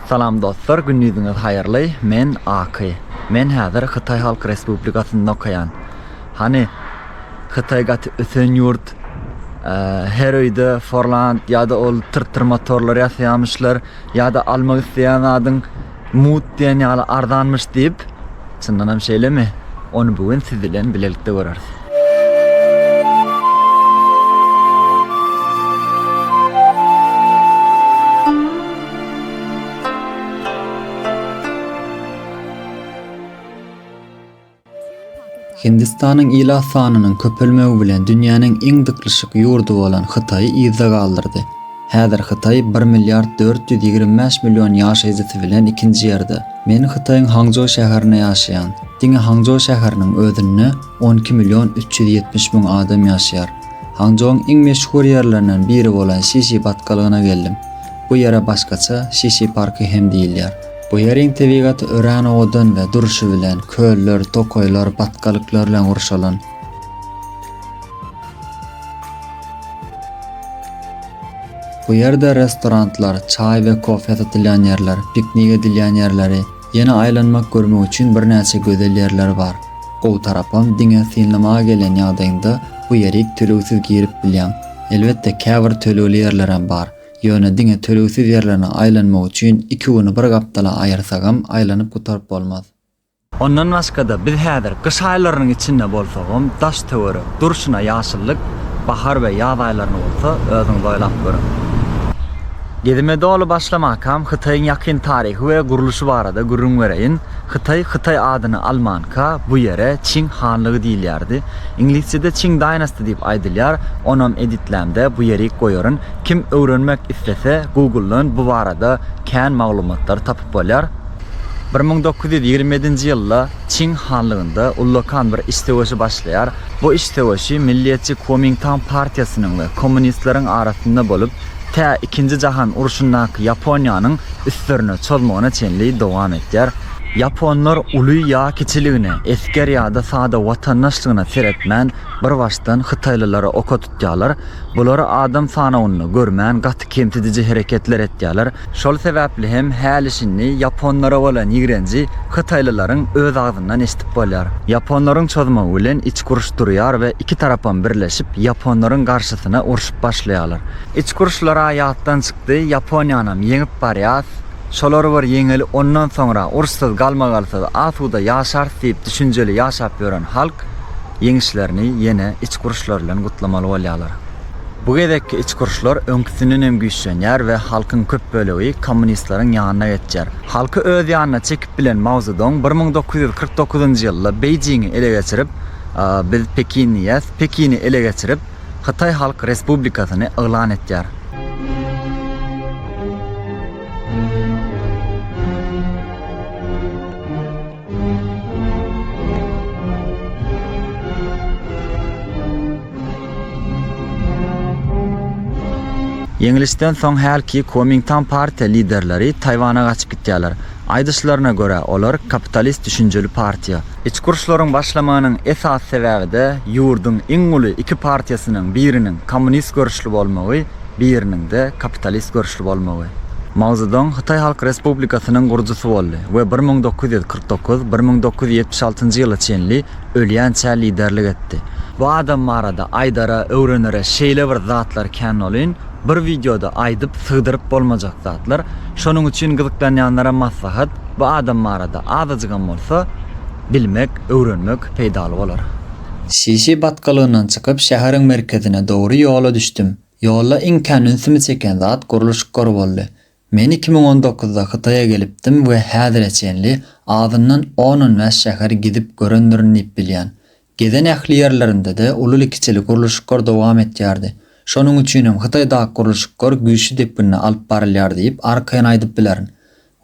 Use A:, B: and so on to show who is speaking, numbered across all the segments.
A: Salam dostlar, gündiziňiz haýyrly, men Aky. Men häzir Hytaý Halk Respublikasynda okaýan. Hany, Hytaý gaty ösen ýurt. Her öýde Forland ýa-da ol tyrtyr motorlar ýasaýamyşlar, ýa-da almak isleýän zadyň Mut diýen ýaly arzanmyş diýip, çyndanam şeýlemi? Ony bu gün siz bilen bilelikde göreris. Hindistanyň ilat sanynyň köpelmegi bilen dünýäniň iň dyklyşyk ýurdy bolan Hytaýy yzda galdyrdy. Häzir Hytaý bir milliard dört ýüz ýigrimi bäş million ýaşaýjysy bilen ikinji ýerde. Men Hytaýyň Hangžou şäherinde ýaşaýan. Diňe Hangžou şäheriniň özünde on iki million üç ýüz ýetmiş müň adam ýaşaýar. Hangžouň iň meşhur ýerlerinden biri bolan Şişi batgalygyna geldim. Bu ýere başgaça Şişi parky hem diýilýär. Bu ýeriň tebigaty örän owadan we durşy bilen köller, tokaýlar, batgalyklar bilen gurşalan. Bu ýerde restoranlar, çaý we kofe satylýan ýerler, piknik edilýän ýerleri, ýene aýlanmak görmek üçin birnäçe gözel ýerler bar. Gowy tarapam diňe synlamaga gelen ýagdaýyňda bu ýerik tölegsiz girip bilýäň. Elbetde käbir tölegli ýerlerem bar. Ýöne diňe tölegsiz ýerlerine aýlanmak üçin iki güni bir gapdala aýyrsagam, aýlanyp gutaryp bolmaz. Ondan başga-da, biz häzir gyş aýlarynyň içinde bolsagam, daş-töwerek durşuna ýaşyllyk, bahar we ýaz aýlaryny bolsa özüňiz oýlap görüň. Gezime doly başlamakam Hytaýyň ýakyn taryhy we gurluşy barada gürrüň bereýin. Hytaý, Hytaý adyny almanka, bu ýere Çing hanlygy diýilýärdi. Iňlisçede Qing Dynasty diýip aýdylýar, onam editlämde bu ýerik goýaryn. Kim öwrenmek islese Google-dan bu barada kän maglumatlary tapyp bolýar. Bir müň dokuz ýüz ýigrimi ýedinji ýylda Çing hanlygynda ullakan bir iç söweşi başlaýar. Bu iç söweşi milliýetçi Kuomingtang partiýasynyň we kommunistleriň arasynda bolup, tä Ikinji jahan urşundaky Ýaponiýanyň üstlerine çozmagyna çenli dowam etýär. Ýaponlar uly ýa kiçiligine, esger ýa-da sada watandaşlygyna seretmän, birbaşdan hytaýlylary oka tutýar. tutýarlar. Bulary adam sanawynda görmän gaty kemsidiji hereketler etýärler. Şol sebäpli hem häli-şindi ýaponlara bolan ýigrenji hytaýlylaryň öz agzyndan eşidip bolýar. Ýaponlaryň çozmagy bilen içki uruş durýar we iki tarapam birleşip ýaponlaryň garşysyna urşup başlaýarlar. Içki uruşlar-a ýatdan çykdy, Ýaponiýanam ýeňip barýas, şolary bir ýeňeli ondan soňra urşsuz galmagalsyz asuda ýaşars diýip düşünjeli ýaşap ýören halk, ýeňişlerini ýene içki uruşlar bilen gutlamaly bolýarlar. Bu gezekki içki uruşlar öňküsinden hem güýçlenýär we halkyň köp bölegi kommunistleriň ýanyna geçýär. Halky öz ýanyna çekip bilen Mao Zedong bir müň dokuz ýüz kyrk dokuzynjy ýylda Beýjiňi ele geçirip, Biz Pekinliýäs, Pekini ele geçirip, Hytaý Halk Respublikasyny yglan etýär. Ýeňlişden soň hälki Kuomingtan partiýa liderleri Taýwana gaçyp gitýärler. Aýdyşlaryna görä, olar kapitalist düşünjeli partiýa. Içki uruşlaryň başlamagynyň esasy sebäbi-de ýurduň iň uly iki partiýasynyň biriniň kommunist görüşli bolmagy biriniň-de kapitalist görüşli bolmagy. Mao Zedong Hytaý Halk Respublikasynyň gurujysy boldy we bir müň dokuz ýüz kyrk dokuz-bir müň dokuz ýüz ýetmiş altynjy ýyla çenli ölýänçä liderlik etdi. Bu adam barada aýdara, öwrenere şeýle bir zatlar kän olyn, bir wideoda aýdyp, sygdyryp bolmajak zatlar. Şonuň üçin gyzyklanýanlara maslahat, bu adam barada azajygam bolsa, Bilmek, öwrenmek peýdaly bolar. Şişi batgalygyndan çykyp şäheriň merkezine dogry ýola düşdüm. Ýolda iň kän ünsümi çeken zat gurluşyklar boldy. Men iki müň on dokuzda Hytaýa gelipdim we häzire çenli azyndan on-on bäş şäher gidip görendirin diýip bilýän. Gezen ähli ýerlerinde-de ululy-kiçili gurluşyklar dowam etýärdi. Şonuň üçinem Hytaýdaky gurluşyklar güýçli depginde alyp barylýar diýip arkaýyn aýdyp bilerin.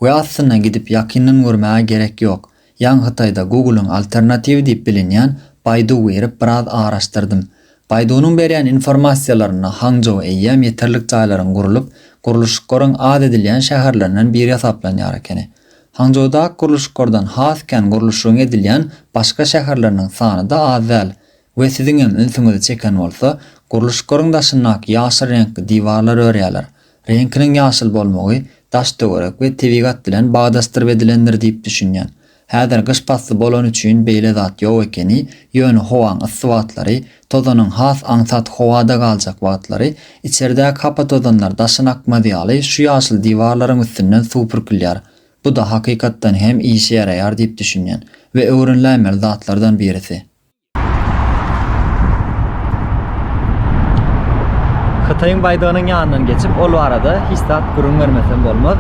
A: We aslynda gidip ýakyndan görmäge gerek ýok. Ýaňy Hytaýda Google-yň alternatiwi diýip bilinýän Baidu girip biraz araşdyrdym. Baidu-nyň berýän informasiýalarynda Hangzhou eýýäm ýeterlik jaýlaryň gurlup, gurluşyklaryň az edilýän şäherlerinden biri hasaplanýar ekeni. Hangzhoudaky gurluşyklardan has kän gurluşygyň edilýän başga şäherleriniň sany-da az däl. we siziňem ünsüňizi çeken bolsa, gurluşyklaryň daşyndaky ýaşyl reňkli diwarlar örýärler. Reňkiniň ýaşyl bolmagy daş-töwerek we tebigat bilen bagdasdyrp edilendir diýip düşünýän. Häzir gyş pasly bolany üçin beýle zat ýok ekeni, ýöne howaň yssy wagtlary, tozanyň has aňsat howada galjak wagtlary içerdäki hapa tozanlar daşyna akmaz ýaly şu ýaşyl diwarlaryň üstünden suw pürkülýär. Bu-da hakykatdan hem işe ýaraýar diýip düşünýän we öwreniläýmeli zatlardan birisi. Hytaýyň baýdagynyň ýanyndan geçip, ol barada hiç zat gürrüň bermesem bolmaz.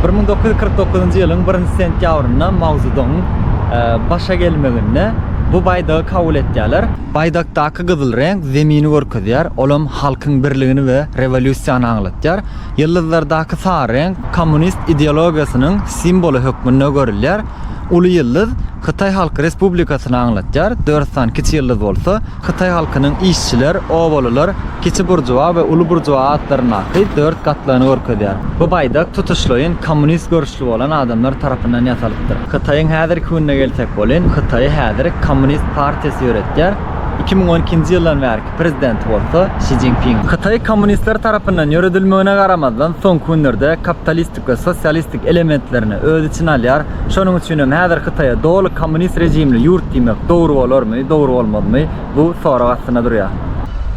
A: 1949-njy ýylyň 1-nji sentýabrynda Mao Zedongyň e, başa gelmeginde bu baýdagy kabul etýärler. Baýdakdaky gyzyl reňk zemini görkezýär, olam halkyň birligini we rewolýusiýany aňlatýar. Ýyldyzlardaky sary reňk kommunist ideologiýasynyň simwoly hökmünde görülýär. Uly ýyldyz Hytaý Halk Respublikasyny aňlatýar, dört sany kiçi ýyldyz bolsa, hytaý halkynyň işçiler, obalylar, kiçi buržua we uly buržua atlaryndaky dört gatlagyny görkezýär. Bu baýdak tutuşlaýyn kommunist görüşli bolan adamlar tarapyndan ýasalypdyr. Hytaýyň häzirki gününe gelsek welin, Hytaýy häzir Kommunist partiýasy ýöretýär. Iki müň on ikinji ýyldan bärki prezidenti bolsa Şi Jinping. Hytaý kommunistler tarapyndan ýöredilmegine garamazdan, soňky günlerde kapitalist we sosialistik elementlerini öz içine alýar. Şonuň üçin hem häzir Hytaýa doly kommunist rejimli ýurt diýmek dogry bolarmy, dogry bolmazmy, bu sorag astynda durýar.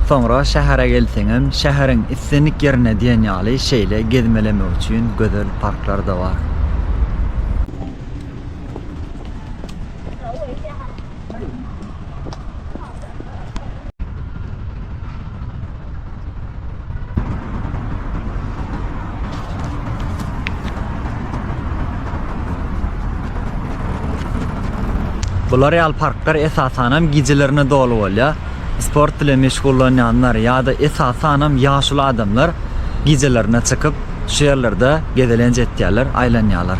A: Soňra şähere gelseňem, şäheriň islendik ýerinde diýen ýaly şeýle gezmelemek üçin gözel parklar-da bar. Bular ýaly parklar esasan hem gijelerine doly bolýar. Sport bilen meşgullanýanlar ýa-da esasan hem ýaşuly adamlar gijelerine çykyp, şu ýerlerde gezelenç etýärler, aýlanýarlar.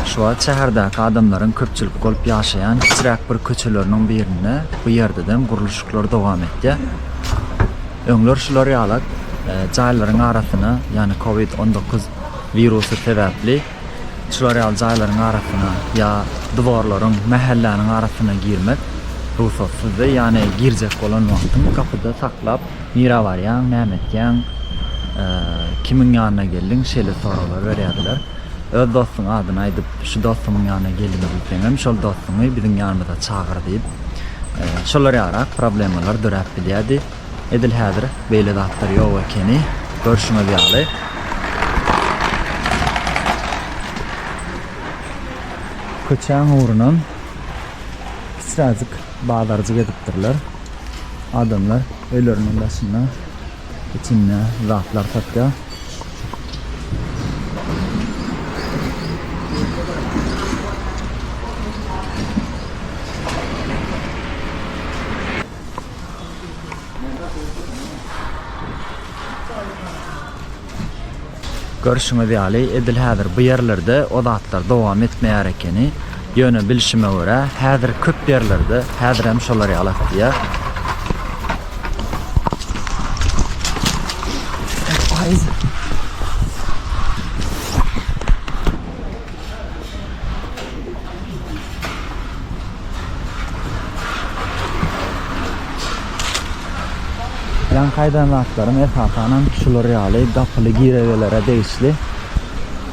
A: Şu wagt şäherdäki adamlaryň köpçülik bolup ýaşaýan kiçiräk bir köçeleriniň birinde bu ýerdedem gurluşyklar dowam etýär. Öňler şular ýala jaýlaryň arasyna, ýany covid on dokuz wirusy sebäpli şular ýaly jaýlaryň arasyna ýa diwarlaryň, mähelläniň arasyna girmek rugsatsyzdy, ýany girjek bolan wagtyň gapyda saklap, nirä barýaň, näme etýäň, kimiň ýanyna geldiň, şeýle soraglar berýärdiler. Öz dostuň adyny aýdyp, şu dostumyň ýanyna geliň diýseňem, şol dostuňy biziň ýanymyza çagyr diýip, şolar ýaly-ak problemalar döräp bilýärdi. Edil häzir beýle zatlar ýok ekeni. Görşüňiz ýaly. Köçäň ugrunam kiçiräjik bazarjyk edipdirler. Adamlar öýleriniň daşynda, içinde zatlar satýar. Görşüňiz ýaly, edil häzir bu ýerlerde o zatlar dowam etmeýär ekeni. Ýöne bilşime görä, häzir köp ýerlerde häzirem şolar ýaly atýar. Ýan haýdan zatlarym esasanam şular ýaly gapyly giregelere degişli.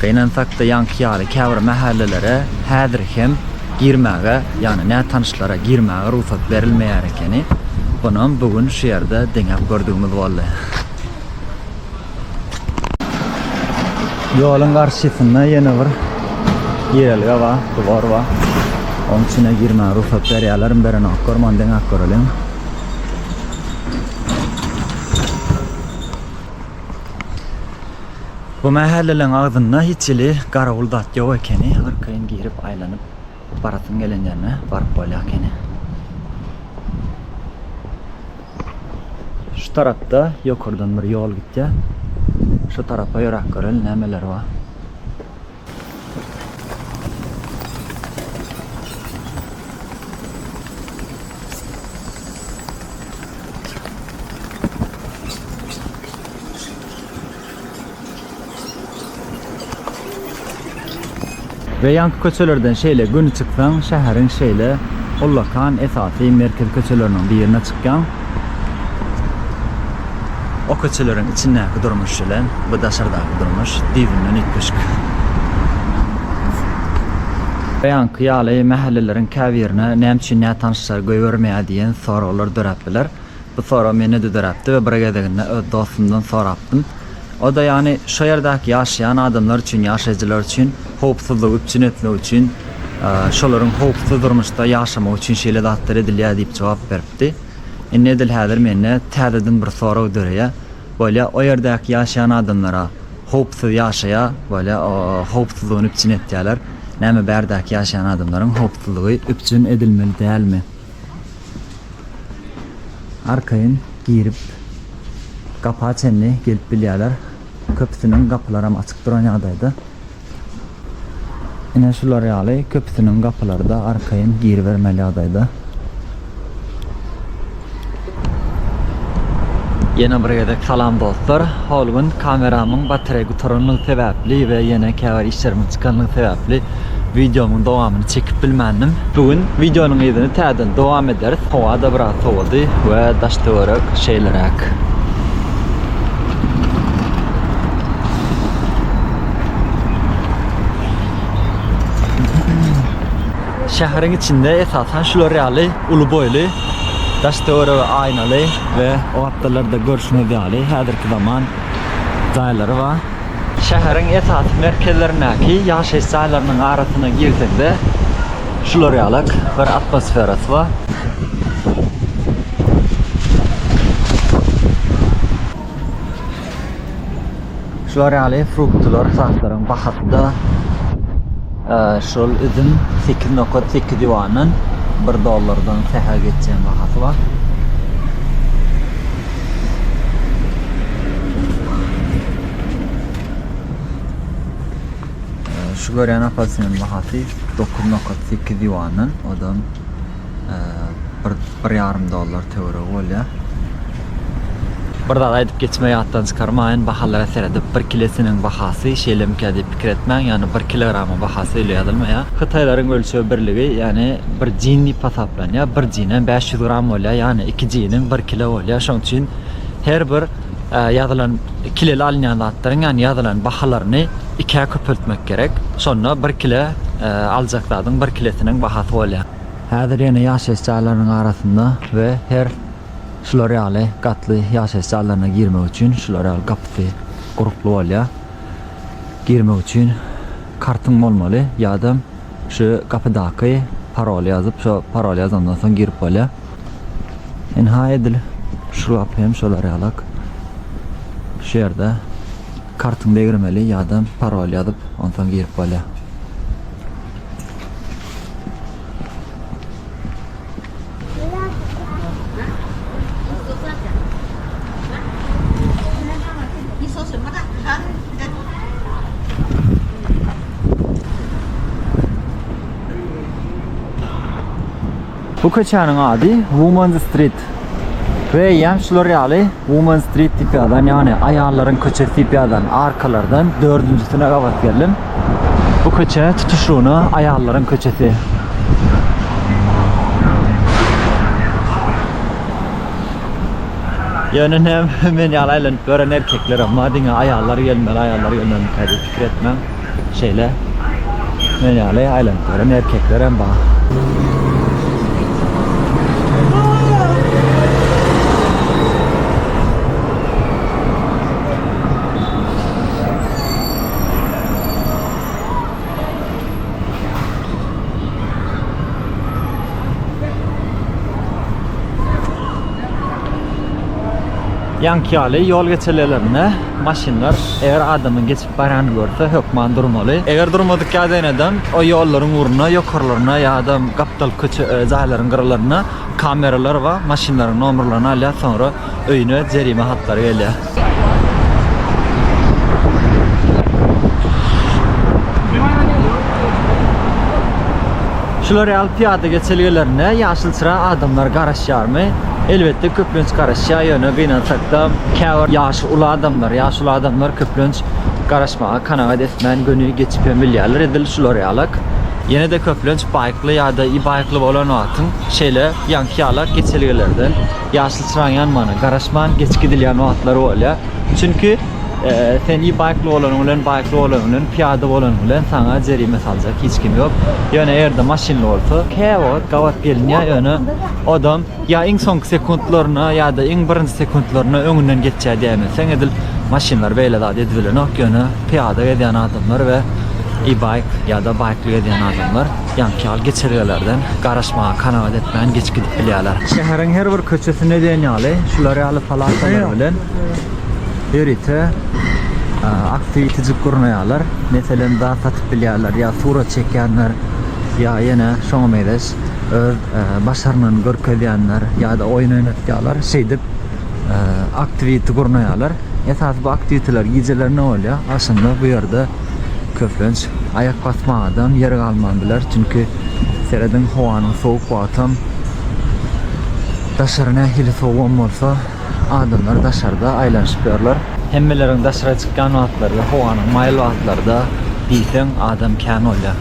A: Gynansak-da ýaňky ýaly käbir mähellelere häzir hem girmäge, ýagny nätanyşlara girmäge rugsat berilmeýär ekeni. Bunam bu gün şu ýerde deňäp gördügimiz boldy. Ýoluň garşysynda ýene bir girelge bar, dwor bar. Onuň içine girmäge rugsat berýärlermi, berenoklarmy, ony deňäp göreliň. Bu mähelleleň agzynda hiç hili garawul zat ýok ekeni, arkaýyn girip aýlanyp barasyň gelen ýerine baryp bolýar ekeni. Şu tarapda ýokardan bir ýol gitýär. Şu tarapa ýöräp göreli nämeler bar. We ýanky köçelerden şeýle göni çyksaň şäheriň şeýle ullakan esasy merkezi köçeleriniň birine çykýaň. O köçeleriň içindäki durmuş bilen bu daşardaky durmuş düýbünden üýtgeşik. Beýanky ýaly, mähelleleriň käbirine näme üçin nätanyşlar goýbermeýär diýen soraglar döräp biler. Bu sorag mende-de döräpdi we bir gezeginde öz dostumdan sorapdym. O-da ýagny şo ýerdäki ýaşaýan adamlar üçin, ýaşaýjylar üçin howpsuzlygy üpjün etmek üçin, şolaryň howpsuz durmuşda ýaşamagy üçin şeýle zatlar edilýär diýip jogap beripdi. aýtdy. Indi edil häzir mende täzeden bir sorag döreýär. Bolýa, o ýerdäki ýaşaýan adamlar-a howpsuz ýaşaýa, bolýa, howpsuzlygyny üpjün etýärler. Näme bärdäki ýaşaýan adamlaryň howpsuzlygy üpjün edilmeli dälmi? Arkaýyn girip, gapa çenli gelip bilýärler. Köpüsiniň gapylaram açyk duran ýagdaýda. Ine şular ýaly köpüsiniň gapylary-da arkaýyn giribermeli ýagdaýda. Ýene bir gezek salam dostlar. Hol gün kameramyň batareý gutaranlygy sebäpli we ýene käbir işlerimiň çykanlygy sebäpli wideomyň dowamyny çekip bilmändim. Bu gün wideonyň yzyny täzeden dowam ederis. Howa-da biraz sowady we daş-töwerek şeýleräk. Şäheriň içinde esasan şular ýaly uly boýly daş töweregi aýnaly we o atdalarda görşüňiz ýaly häzirki zaman jaýlary bar. Şäheriň esasy merkezlerindäki ýaşaýyş jaýlarynyň arasyna girsek-de şular ýalak bir atmosferasy bar. Şular ýaly fruktylar saklaryň bahasy-da şol üzüm 8,8 ýuandan 1 dollardan sähel geçýän bahasy bar. Şu görýän apelsiniň bahasy 9,8 ýuandan, odan bir bir ýarym dollar töweregi bolýar. Bir zat aýdyp geçme ýatdan çykarmaýyn, bahalara seredip bir kilesiniň bahasy şeýlemikä diýip pikir etmäň, ýagny bir kilogramyň bahasy öýle ýazylmaýar. Hytaýlaryň ölçeg birligi ýagny bir jin diýip hasaplanýar, bir jinem bäş ýüz gram bolýar, ýagny iki jiniň bir kilo bolýar, şoň üçin her bir. Ýazylan kileli alynýan zatlaryň ýagny ýazylan bahalaryny ikä köpeltmek gerek. Şonda bir kile aljak zadyň bir kilesiniň bahasy bolýar. Häzir ýene ýaşaýyş jaýlarynyň arasynda we her şular ýaly gatly ýaşaýyş jaýlaryna girmek üçin şular ýaly gapysy gurukly bolýar. Girmek üçin kartyň bolmaly ýadam şu gapydaky paroly ýazyp şo paroly ýazandan soň girip bolýar. Ynha edil şu lapy hem şolar ýalak. Şu ýerde kartyňy degirmeli ýa-da parol ýazyp, onsoň girip bolýar. Bu köçäniň ady Women's Street we ýa-hem şular ýaly Women's Street diýip ýazylan, ýagny aýallaryň köçesi diýip ýazylan arkalardan dördünjisine gabat geldim. Bu köçe tutuşlygyna aýallaryň köçesi. Ýöne näme men ýaly aýlanyp ýören erkeklerem bar, diňe aýallar gelmeli, aýallar gelmelikä diýip pikir etmäň. Şeýle men ýaly aýlanyp ýören erkekler hem bar. Ýaňky ýaly ýol geçelelerinde maşynlar eger adamyň geçip Barany görse hökman durmaly. Eger durmadyk ýa zenedem o ýollaryň ugruna ýokarlaryna ýa-da gapdal köçe jaýlaryň gyralaryna kameralar bar maşynlaryň nomerlerini alýar soňra öýüne jerime hatlary gelýär. Şular ýaly pyýada geçelgelerine ýaşylçyra adamlar garaşýarmy? Elbetde köplenç garaşýar ýöne gynansakda käbir ýaş Uly adamlar, ýaşuly adamlar köplenç garaşmaga kanagat etmän göni geçip hem bilýärler. Edil şular ýalak. Ýene-de köplenç baýkly ýa-da ibaýkly bolan wagtyň şeýle ýaňky ýalak geçelgelerden ýaşyl çyraň ýanmana garaşman geçip gidilýän wagtlary bolýar. Çünki sen ibaýkly bolanyň bilen, baýkly bolanyň bilen, pyýada bolanyň bilen saňa jerime saljak hiç kim ýok. Ýöne erde maşynly bolsa, käwagt gabat gelinýär, ýöne odam. Ýa iň soňky sekuntlaryna ýa-da iň birinji sekuntlaryna öňünden geçýär diýäýmezseň edil maşynlar beýle zat edibilenok ýöne pyýada gezýän adamlar we e-bike ýa-da baýkly gezýän adamlar ýaňky ýaly geçelgelerden garaşmaga kanagat etmän geçip gidip bilýärler. Şäheriň her bir köçesinde diýen ýaly şular ýaly palatalar bilen ýörite aktiwitijik gurnaýarlar. Meselem zat satyp bilýärler ýa surat çekýänler ýa ýene şoňa mezeş. öz başarnygyny görkezýänler ýa-da oýun oýnatýarlar. Şeýdip, aktiwiti gurnaýarlar. Esasy bu aktiwitiler gijelerine bolýar. Aslynda bu ýerde köplenç aýak basmagadam, ýer galman biler. Çünki serediň howanyň sowuk wagtam daşary nähili sowugam bolsa, adamlar daşarda aýlanyşyp ýörler. Hemmeleriň daşara çykýan wagtlary we howanyň maýyl wagtlaryda diýseň adam kän bolýar.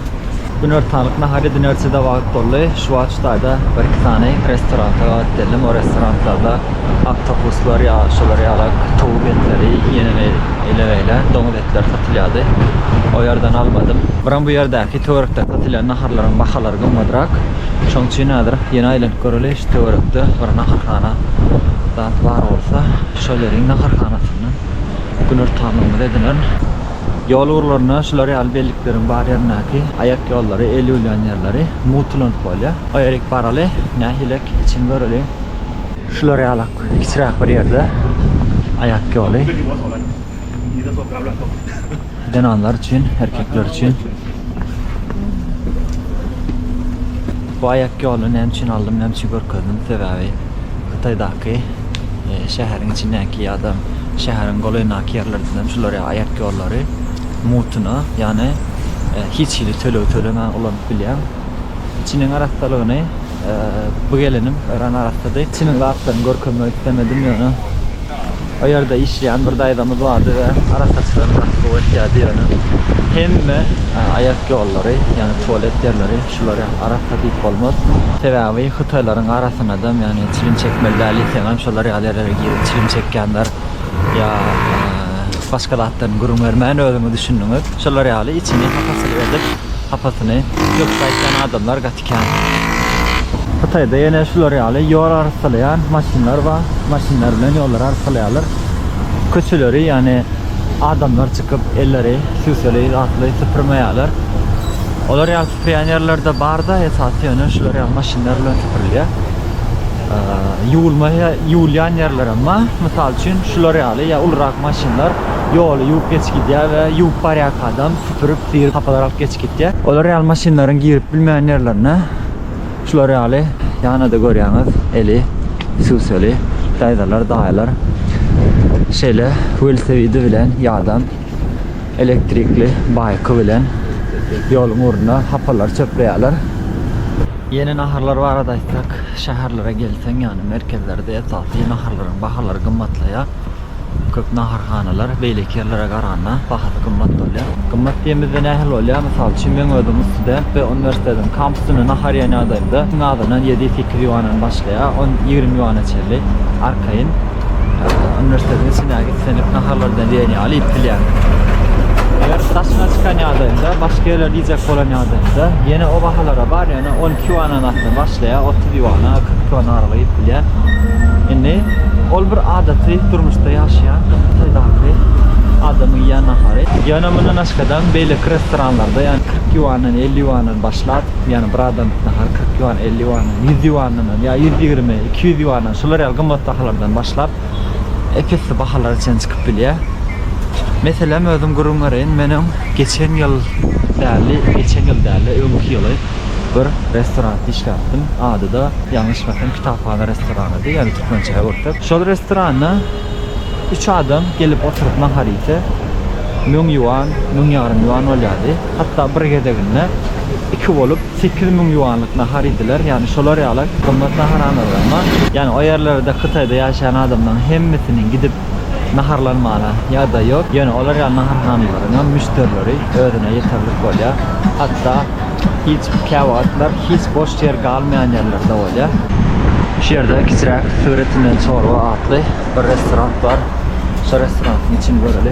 A: Günortanlyk nahary dinerçi-de wagt boldy. Şu wagt şu taýda bir-iki sany restoranta gabat geldim. O restoranlarda oktopuslar ýa şolar ýaly towuk etleri, ýene beýle-beýle doňuz etleri satylýardy. O ýerden almadym. Biram bu ýerdäki töwerekde satylýan naharlaryň bahalary gymmatrak. Şonuň üçin häzir ýene aýlanyp göreli. Şu töwerekde bir naharhana zat bar bolsa, şol ýeriň naharhanasyndan güner tamymyzy edinen. Ýol ugurlarynda şular ýaly bellikleriň bar ýerindäki aýak ýollary, el ýuwlan ýerleri mugtlanyp bolýar. Oýerik baraly, nähilek içini göreliň. Şular ýaly kiçiräk bir ýerde aýak ýoly. Zenanlar üçin, erkekler üçin. Bu aýak ýoluny näme üçin aldym, näme üçin görkezdim? Sebäbi Hytaýdaky e, şäheriň içindäki ýa-da şäheriň golaýyndaky ýerlerden hem şular ýa aýak ýollary mutuna, ýagny e, hiç hili töleg tölemän ulanyp bilýän. İçiniň arassalygyny Bu gelinim öran arasady. Çynyň zatlaryny görkezmek islemedim, ýöne o ýerde işleýän bir daýzamyz bardy we arassaçylygyny gaty gowy etýärdi, ýöne hemme aýak ýollary, ýagny tualet ýerleri şulary arassa diýip bolmaz. Sebäbi hytaýlaryň arasynadam, ýagny çilim çekmeli däl diýseňem şolar ýaly ýerlere girip çilim çekýänler ýa başga zatlaryny gürrüň bermän özüňiz düşündiňiz. Şolar ýaly içini hapasyly edip, hapasyny döküp aýtýan adamlar gaty ýaşaýarkän. Hytaýda ýene şular ýaly ýol arassalaýan maşynlar bar. Maşynlar bilen ýollary arassalaýarlar. Köçeleri, ýagny adamlar çykyp, elleri süseli zatly süpürmeýärler. Olar ýaly süpürýän ýerler-de bar-da, esasy ýöne şular ýaly maşynlar bilen süpürilýär. Ýuwulmaýa, ýuwulýan ýerlerem bar. Mysal üçin, şular ýaly ýa ulurak maşynlar ýoly ýuwup geçip gidýär we ýuwup barýarka adam süpürip Diri hapalar alyp geçip gitýär. Olar ýaly maşynlaryň girip bilmeýän ýerlerine şular ýaly ýanada görýäňiz eli süseli daýzalar, daýylar şeýle welosipedi bilen ýa-dam elektrikli baýky bilen ýoluň ugruna hapalary çöpleýärler. Ýene naharlar barada aýtsak, şäherlere gelseň, ýagny merkezlerde esasy naharlaryň bahalary gymmatlaýar. Köp naharhanalar beýleki ýerlere garanda bahasy gymmat bolýar. Gymmat diýemizde nähili bolýar? Mysal üçin men özüm student we uniwersitetiň kampusynda nahar iýen ýagdaýymda iň azyndan ýedi, sekiz ýuandan başlaýar, on, ýigrimi ýuana çenli arkaýyn uniwersitetiň içindäki islendik naharlardan diýen ýaly iýip bilýärin. Eger daşyna çykan ýagdaýymda, başga ýerlerde iýjek bolan ýagdaýymda ýene o bahalara bar, ýöne on iki ýuandan asla baş. Ýa otuz ýuana, kyrk ýuan araly iýip bilýär. Indi ol bir adaty durmuşda ýaşaýan Hytaýdaky adamyň iýen nahary. Ýöne mundan başgadaam beýleki restoranlarda ýa kyrk ýuandan, elli ýuandan başlap, ýagny bir adamlyk nahar kyrk ýuan, elli ýuandan, ýüz ýuandan hem ýa ýüz ýigrimi, iki ýüz ýuandan şular ýaly gymmat bahalardan başlap ep-esli bahalara çenli çykyp bilýär. Meselem özüm gürrüň bereýin, men öň geçen ýyl däl-de, geçen ýyl däl-de, öňki ýyly bir restoranda işläpdim. Ady-da ýalňyşmasam Kitaphana restoranydy, ýagny türkmençäge gürtüp. Şol restoranda üç adam gelip oturyp nahar iýse, müň ýuan, müň ýarym ýuan bolýardy. Hatda bir gezeginde iki bolup sekiz müň ýuanlyk nahar iýdiler. Ýagny şolar ýaly gymmat naharhanalaram bar. Ýagny o ýerlerde Hytaýda ýaşaýan adamlaryň hemmesiniň gidip naharlanmana ýagdaý ýok, ýöne olar ýaly naharhanalaryňam müşderileri özüne ýeterlik bolýar, hatda hiç käwagtlar hiç boş ýer galmaýan ýerler-de bolýar. Şu ýerde kiçiräk Syr etinden çorba atly bir restoran bar. Şo restorantyň içini göreli.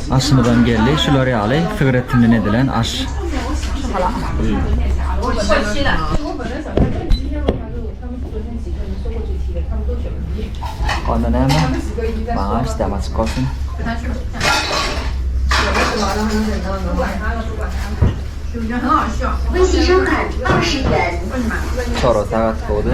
A: Aşymyzam geldi şular ýaly sygyr etinden edilen aş. Onda näme? Maňa aş däl açyk bolsun. Çorba sagat gowdy.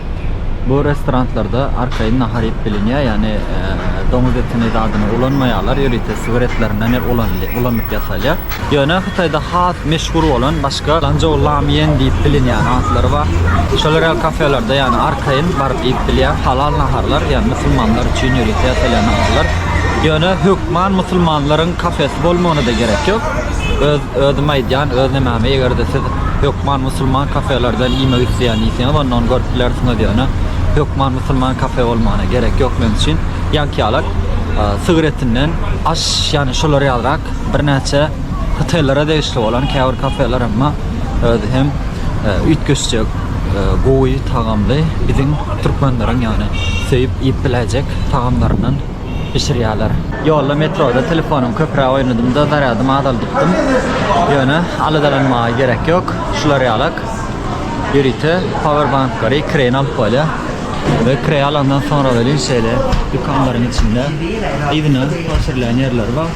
A: Bu restoranlarda arkaýyn nahar iýip bilinýär, ýagny doňuz etini zadyny ulanmaýarlar, ýörite sigaretlerinden ulanylyp ýasalýar. Ýöne Hytaýda has meşhur bolan başga Lanzhou Lamýen diýip bilinýän atlary bar. Şolar ýaly kafelerde, ýagny arkaýyn baryp iýip bilýär. Halal naharlar, ýagny musulmanlar üçin ýörite ýasalýan naharlar. Ýöne hökman musulmanlaryň kafesi bolmagyna-da gerek ýok. Öz özüm aýdýan, öz nemämi, eger-de siz hökman musulman kafelerden iýmek isleýän diýseňiz ondan görüp bilersiňiz ýöne hökman musulman kafe bolmagyna gerek ýok meň üçin ýaňky ýalak sygyr etinden aş ýany şolar ýalyrak birnäçe hotellara degişli bolan käbir kafeler emma özi hem üýtgeşjek gowy tagamly biziň türkmenleriň ýany söýüp iýip biläýjek tagamlaryndan bişirýärler. Ýolda metroda telefonymy köpräk oýnadymda zarýadymy azaldypdym. Ýöne aladalanmaga gerek ýok. Şular ýalak ýörite powerbanklary ikireýin alyp bolýar. We ikireý alandan soňra welin şeýle dükanlaryň içinde yzyna oturylan ýerleri bar.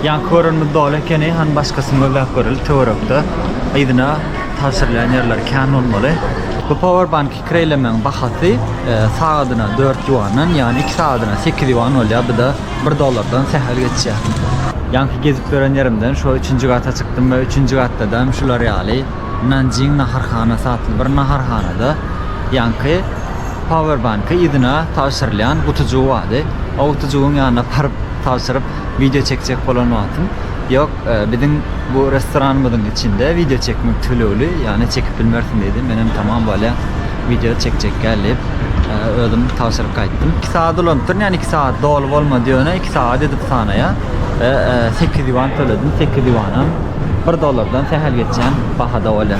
A: Ýaňky görenimiz doly ekeni, hany başgasyny gözläp göreli töwerekde yzyna tabşyrylan ýerleri kän bolmaly. Bu powerbank Kireýlemegiň bahasy sagadyna dört ýuandan, ýagny iki sagadyna sekiz ýuan bolýar, bu-da bir dollardan sähel geçýär. Ýaňky gezip gören ýerimden şo üçünji gata çykdym we üçünji gatdadam şular ýaly Nanjing naharhanasy atly bir naharhanada ýaňky Powerbank-y yzyna tabşyrylýan gutujygy bardy. O gutujygyň ýanyna baryp tabşyryp wideo çekjek bolan wagtym ýok. Biziň bu restoranymyzyň içinde wideo çekmek tölegli, ýagny çekip bilmersiň diýdi. Menem tamam bolýa, wideo çekjek däl diýip, özüm tabşyryp gaýtdym. Iki sagat ulanypdyryn, ýagny iki sagat doly bolmady ýöne iki sagat edip sanaýa. Sekiz ýuan töledim, sekiz ýuanam bir dollardan sähel geçýän bahada bolýa.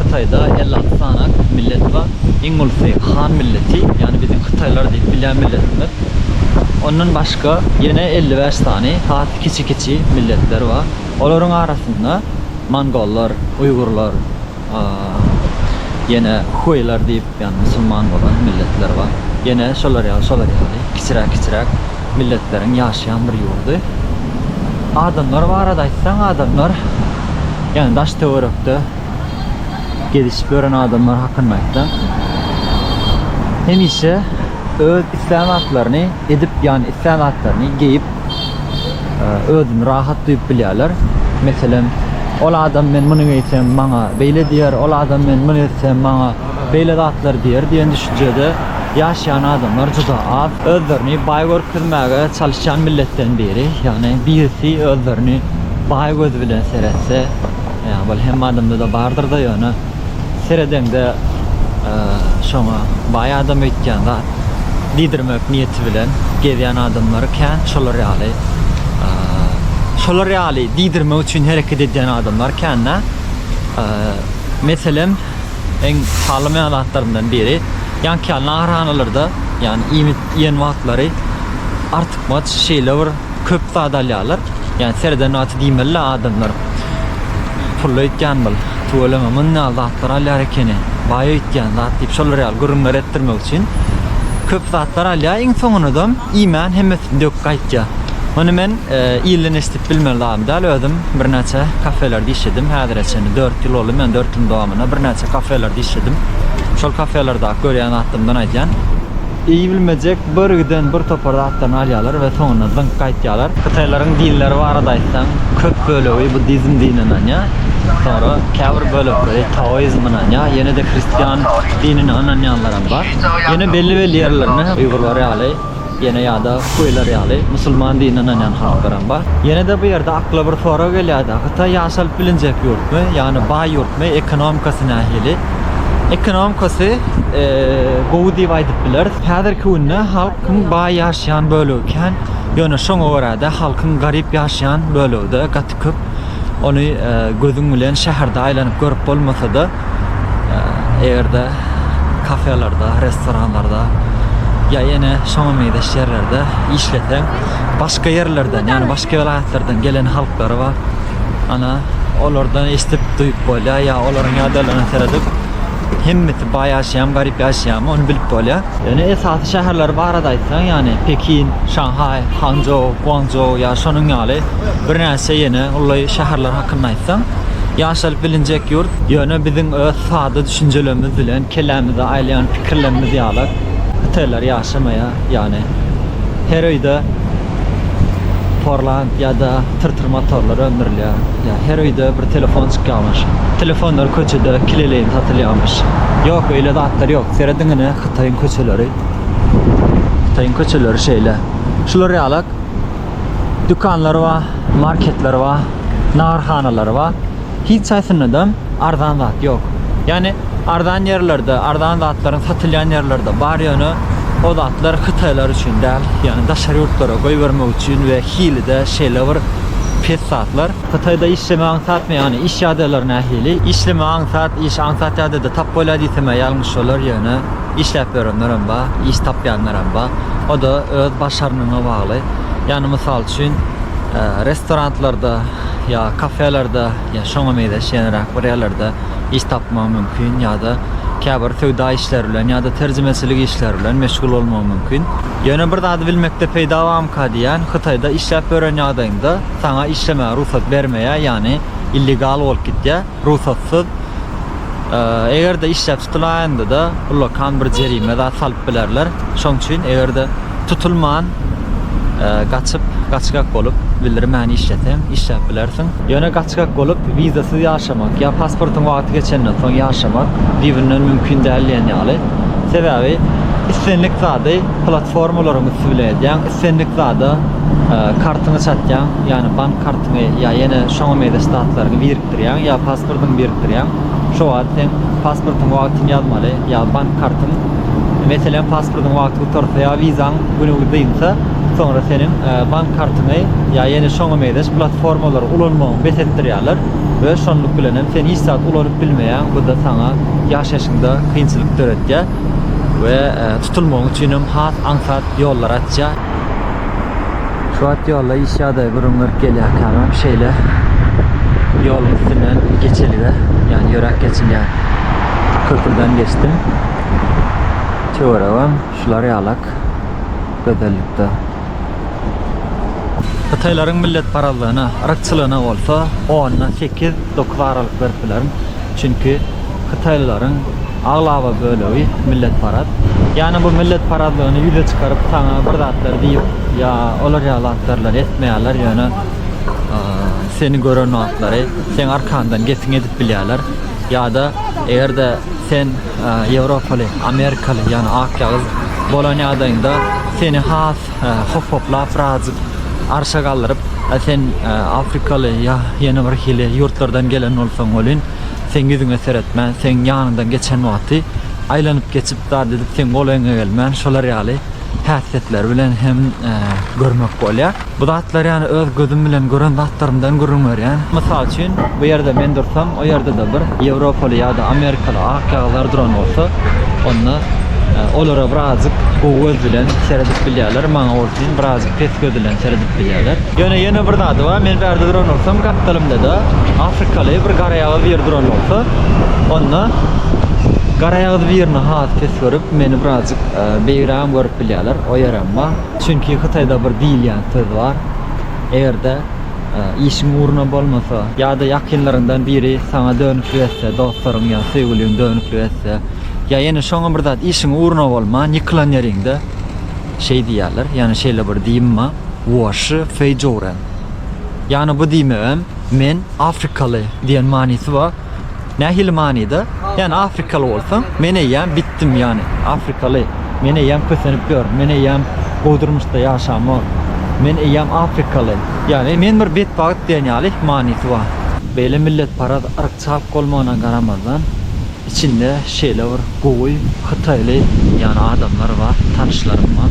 A: Hytaýda elli alty sany millet bar. Iň ulusy han milleti, ýagny biziň hytaýlar diýip bilýän milletimiz. Ondan başga ýene elli bäş sany has kiçi-kiçi milletler bar. Olaryň arasynda mongollar, uýgurlar, ýene huýlar diýip, ýagny musulman bolan milletler bar. Ýene şolar ýaly, şolar ýaly kiçiräk-kiçiräk. Milletleriň ýaşaýan bir ýurdy. Adamlar barada aýtsaň adamlar ýagny daş töwerekde gezişip ýören adamlar hakynda aýtsaň hemişe öz islän zatlaryny edip ýagny islän zatlaryny geýip özüni rahat duýup bilýärler. Meselem ol adam men muny geýsem maňa beýle diýer ol adam men muny etsem maňa beýle zatlar diýer diýen düşünjede ýaşaýan adamlar juda az. Özlerini baý görkezmäge çalyşýan milletden biri, ýagny birisi özlerini baý gözi bilen seretse, ýa bol hemme adamda-da bardyr-da, ýöne seredeňde şoňa baý adam öýtýän zat diýdirmek niýeti bilen gezýän adamlar kän, şolar ýaly şolar ýaly diýdirmek üçin hereket edýän adamlar kän-dä. Meselem. iň tanalmaýan zatlarymdan biri. Ýaňky ýaly naharhanalarda, ýagny iýmit iýen wagtlary artykmaç şeýle bir köp zat alýarlar. Ýagny sereden wagty diýmeli-de adamlar pully öýtýän bul, tüweleme mundan ýaly zatlar alýar ekeni, baý öýtýän zat diýip şolar ýaly gürrüňler etdirmek üçin köp zatlar alýar. Iň soňunydam Iýmän hemmesini döküp gaýtýa. Muny men ilden eşidip bilmen zadym däl, özüm birnäçe kafelerde işledim, häzire çenli dört ýyl boldy, men dört ýylyň dowamynda birnäçe kafelerde işledim. Şol kafelerdaky görýän zatlarymdan aýdýan. Iýibilmejek birgiden bir topar zatlaryny alýalar we soňunda zyňyp gaýtýalar. Hytaýlaryň dinleri barada aýtsaň, köp bölegi buddizm dinine ynanýar, soňra käbir bölekleri taoizm ynanýar, ýene-de hristian dinine ynanýanlaram bar. Ýöne belli-belli ýerlerinde uýgurlar ýaly, ýene ýa-da huýlar ýaly musulman dinine ynanýan halklaram bar. Ýene-de bu ýerde akla bir sorag gelýär-de, Hytaý ýaşalyp bilinjek ýurtmy, ýagny baý ýurtmy, ekonomikasy nähili? Ekonomikasy gowy diýip aýdyp bileris. Häzirki günde halkyň baý ýaşaýan bölegi kän, ýöne şoňa görä-de halkyň garyp ýaşaýan bölegi-de gaty köp. Ony gözüň bilen şäherde aýlanyp görüp bolmasa-da, Eger-de kafelerde, restoranlarda ýa ýene şoňa meňzeş ýerlerde işleseň, başga ýerlerden, ýagny başga welaýatlardan gelen halklar bar. Ana, olardan eşidip, duýup bolýar, ýa olaryň ýagdaýlaryna seredip, hemmesi baý ýaşaýarmy, garyp ýaşaýarmy, ony bilip bolýar. Ýöne esasy şäherler barada aýtsaň, ýagny Pekin, Şanhaý, Hançžou, Guançžou ýa şonuň ýaly birnäçe ýene uly şäherler hakynda aýtsaň, aýtsaň, ýaşalyp bilinjek ýurt. Ýöne biziň öz sada düşünjelerimiz bilen kellämize aýlaýan pikirlerimiz ýalak hytaýlar ýaşamaýar. Ýagny, her öýde porland ýa-da tyrtyr motorlar öndürilýär. Ýa her öýde bir telefon çykýarmyş. Telefonlar köçede kileleýin satylýarmyş. Ýok, öýle zatlar ýok. Serediň ine, Hytaýyň köçeleri. Hytaýyň köçeleri şeýle. Şular ýalak dükanlar bar, marketler bar. naharhanalary bar. Hiç haýsynda-da arzan zat ýok. Ýagny arzan ýerlerde, arzan zatlaryň satylýan ýerlerde bar ýöne o zatlar hytaýlar üçin däl, ýagny daşary ýurtlara goýbermek üçin we hili-de şeýle bir pes zatlar. Hytaýda işlemek aňsatmy, ýagny iş ýagdaýlary nähili? Işlemek aňsat, iş aňsat ýagdaýda tap bolýar diýsem-ä ýalňyş bolar, ýöne işläp ýörenlerem bar, iş tapýanlarem bar. O-da öz başarnygyňa bagly. Ýagny mysal üçin restoranlarda ýa kafelerde ýa şoňa meýleş ýenäräk bir ýerlerde iş tapmagy mümkin ýa-da käbir söwda işleri bilen ýa-da terjimeçilik işleri bilen meşgul bolmagy mümkin. Ýöne bir zady bilmekde peýda bamyka diýýän, Hytaýda işläp ýören ýagdaýyňda saňa işlemäge rugsat bermeýär, ýagny illegal bolup gitýär. Rugsatsyz eger-de işläp tutulaýanda-da ullakan bir jerime zat salyp bilerler. Şoň üçin eger-de tutulman gaçyp, gaçgak bolup bildirmän işleseň, işläp bilersiň. Ýöne gaçgak bolup wizasyz ýaşamak ýa pasportyň wagty geçenden soň ýaşamak düýbünden mümkin däl diýen ýaly. Sebäbi islendik zady platformalaryň üsti bilen edýäň, islendik zada kartyňy çatýaň, ýagny bank Şuňa ýa ýene şoňa meýleş zatlaryňy birikdirýäň, ýa pasportyňy birikdirýäň. Şo wagt sen pasportyň wagtyny ýazmaly, ýa bank kartyň. Meselem, pasportyň wagty gutarsa ýa wizaň güni dynsa, soňra seniň bank kartyňy ýa ýene şoňa meýleş platformalary ulanmagyňy bes etdirýärler we şonluk bilen hem sen hiç zat ulanyp bilmeýäň. Bu-da saňa ýaşaýşyňda kynçylyk döretýär we tutulmagyň üçin hem has aňsat ýollary açýar. Şu wagt ýolda iş ýagdaýy gürrüň berip gelýärkämem şeýle ýoluň üstünden geçelige, ýagny ýöräp geçilýän köprüden geçdim. Töweregem şular ýalak gözellikde. Hytaýlaryň milletparazlygyna, yrkçylygyna bolsa onda sekiz, dokuz aralyk berip bilerin. Çünki hytaýlylaryň Aglaba bölegi milletparaz. Ýagny bu milletparazlygyny ýüze çykaryp saňa bir zatlar diýip ýa olar ýaly zatlarlar etmeýärler ýöne seni gören wagtlary seň arkaňdan gesiň edip bilýärler ýada egerde sen ýewropaly amerikaly ýagny ak ýagyz bolan ýagdaýyňda seni has hop hoplap birazjyk arşa galdyryp sen afrikaly ýa ýene bir hili ýurtlardan gelen bolsaň welin seň ýüzüňe seretmän, seň ýanyňdan geçen wagty aýlanyp geçip zat edip seň golaýyňa gelmän şolar ýaly häsiýetleri bilen hem görmek bolýar. Bu zatlar ýany öz gözüm bilen gören zatlarymdan gürrüň berýän. Mysal üçin bu ýerde men dursam o ýerde-de bir ýewropaly ýa-da amerikaly akýazlar duran bolsa onda olara birazjyk gowy göz bilen seredip bilýärler maňa bolsun birazjyk pes göz bilen seredip bilýärler. Ýöne ýene bir zady bar, men bärde duran bolsam, gapdalymda-da afrikaly bir garaýagyz biri duran bolsa, onda garaýagyz birini has pes görüp, meni birazjyk beýigrägem görüp bilýärler, o ýerem bar. Çünki Hytaýda bir diýilýän söz bar, Eger-de işiň ugruna bolmasa, ýa-da ýakynlaryňdan biri saňa dönüklik etse, dostlaryň ýa söýgüliň dönüklik etse, ýa ýene şoňa bir zat işiň ugruna bolman, ýykylan ýeriňde, Şeý diýýärler, ýagny şeýle bir diýim bar, Woşy feýjouren. Ýagny bu diýmegem Men afrikaly diýen manysy bar. Nähili manyda? Ýagny afrikaly bolsaň, men eýýäm bitdim, ýagny afrikaly, men eýýäm kösenip ýörün, men eýýäm gowy durmuşda ýaşamok, men eýýäm afrikaly, ýagny men bir betbagt diýen ýaly manysy bar. Beýle milletparaz, Çalt bolmagyna garamazdan, içinde şeýle bir gowy hytaýly ýaly adamlar bar, tanyşlarym bar.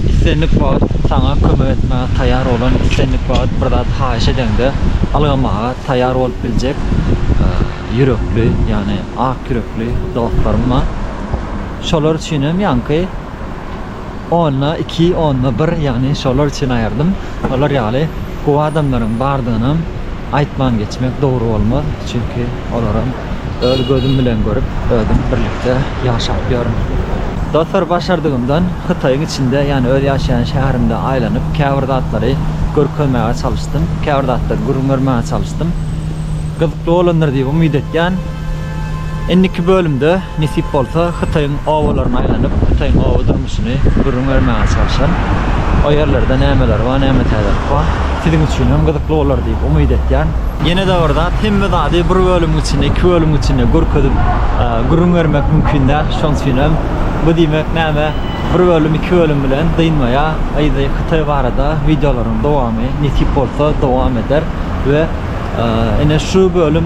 A: Islendik wagt saňa kömek etmäge taýýar bolan, islendik wagt bir zat haýyş edeňde ylgamaga taýýar bolup biljek ýürekli, ýagny ak ýürekli dostlarym bar. Şolar üçin hem ýaňky Onda iki, onda bir, ýagny şolar üçin aýyrdym. Olar ýaly gowy adamlaryň bardygynam aýtman geçmek dogry bolmaz, çünki olaram öz gözüm bilen görüp, özüm birlikde ýaşap ýörün. Dostlar, başardygymdan Hytaýyň içinde, ýagny öz ýaşaýan şäherimde aýlanyp, käbir zatlary görkezmäge çalyşdym, käbir zatlary gürrüň bermäge çalyşdym. Gyzykly bolandyr diýip umyt etýän. Indiki bölümde nesip bolsa Hytaýyň obalaryna aýlanyp Hytaýyň oba durmuşyny gürrüň bermäge çalşan. O ýerlerde nämeler bar näme täzelik bar siziň üçin hem gyzykly bolar diýip umyt etýän. Ýenede bir zat hemme zady bir bölümiň içinde iki bölümiň içinde görkezip gürrüň bermek mümkin däl şoň üçin hem bu diýmek näme bir bölüm iki bölüm bilen dynmaýa yzy Hytaý barada wideolaryň dowamy nesip bolsa dowam eder we ine şu bölüm